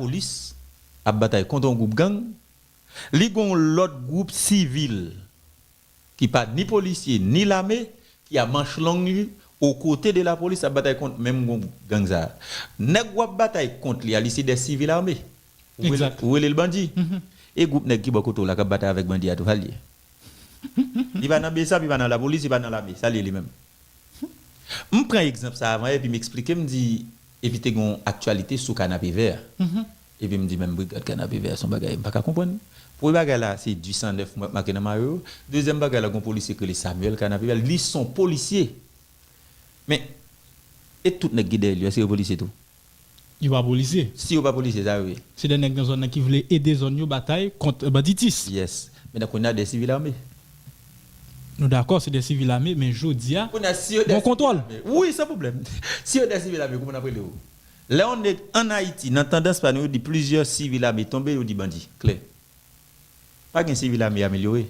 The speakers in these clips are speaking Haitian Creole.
Polis ap batay kont yon gwoup gang, li gon yon lòt gwoup sivil ki pa ni polisye ni lame ki a manch long li o kote de lapolis ap batay kont menm gwoup gang sa a. Nèg wap batay kont li a li se dè sivil ame. Ou rele l bandi. E gwoup nèg ki bò kote w la kap batay avèk bandi a tou sa l ye? Li pa nan bsap, li pa nan lapolis, li pa nan lame. Sa l ye li menm? Hum. M pran egzanp sa avan epi m eksplike m di epi te gen yon aktyalite sou kanapevè a. Epi m di men brigad kanapevè a se yon bagay m pa ka konprann. Premye bagay la se du sang neuf mwen remake nan mayo yo. Dezyèm bagay la gen yon polisye ki rele Samuel kanapevè a li se yon polisye. Men e tout nèg ki dèyè li yo eske yo polisye tou? Yo pa polisye. Si yo pa polisye sa yo ye. Se 2 nèg nan zòn nan ki vle ede zòn yo batay kont banditis. Yes. Men nan kounya 2 sivil ame. Nou dakò se 2 sivil ame men jodia Kounya si yo 2 bon sivil kontwòl. ame. Wi san pwoblèm. Si yo 2 sivil ame kouman nap rele yo? Lè yon nèg an Ayiti nan tandans pa nou yo di plizyè sivil ame tonbe yo di bandi. Klè. Pa gen sivil ame amelyore.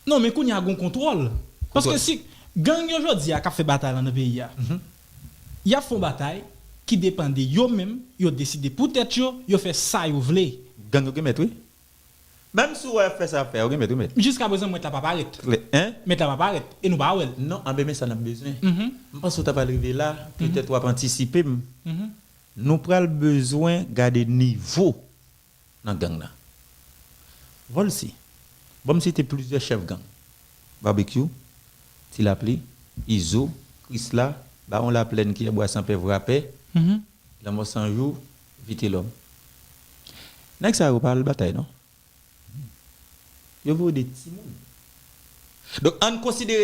Non men kounye a gon kontwòl. Paske si gang yo jodi a kap fè batay lan nan peyi a. Yap fon batay ki depan de yo menm, yo deside pou tèt yo, yo fè sa yo vle. Gang yo gen mèt wi. Menm si ou wè yap fè sa yap fè a yo gen mèt wi mèt. Jiska prezan mèt la pa parèt. Mèt la pa parèt e nou pa wèl. Non anben men sa nap bezwen. M panse ou ta pral rive la, petèt wap antisipe m. Nou pral bezwen gade nivo nan gang nan. Volcy, Ban m site plizyè chèf gang, Barbecue, Ti Lapli, Izo, Krisla, Bawon Laplèn, Kiyè Bwa San Pè, Vrapè, Lanmò San Jou, Vitelòm. Nèg sa yo pa al batay non. Yo voye de timoun. Donk, an n konsidere.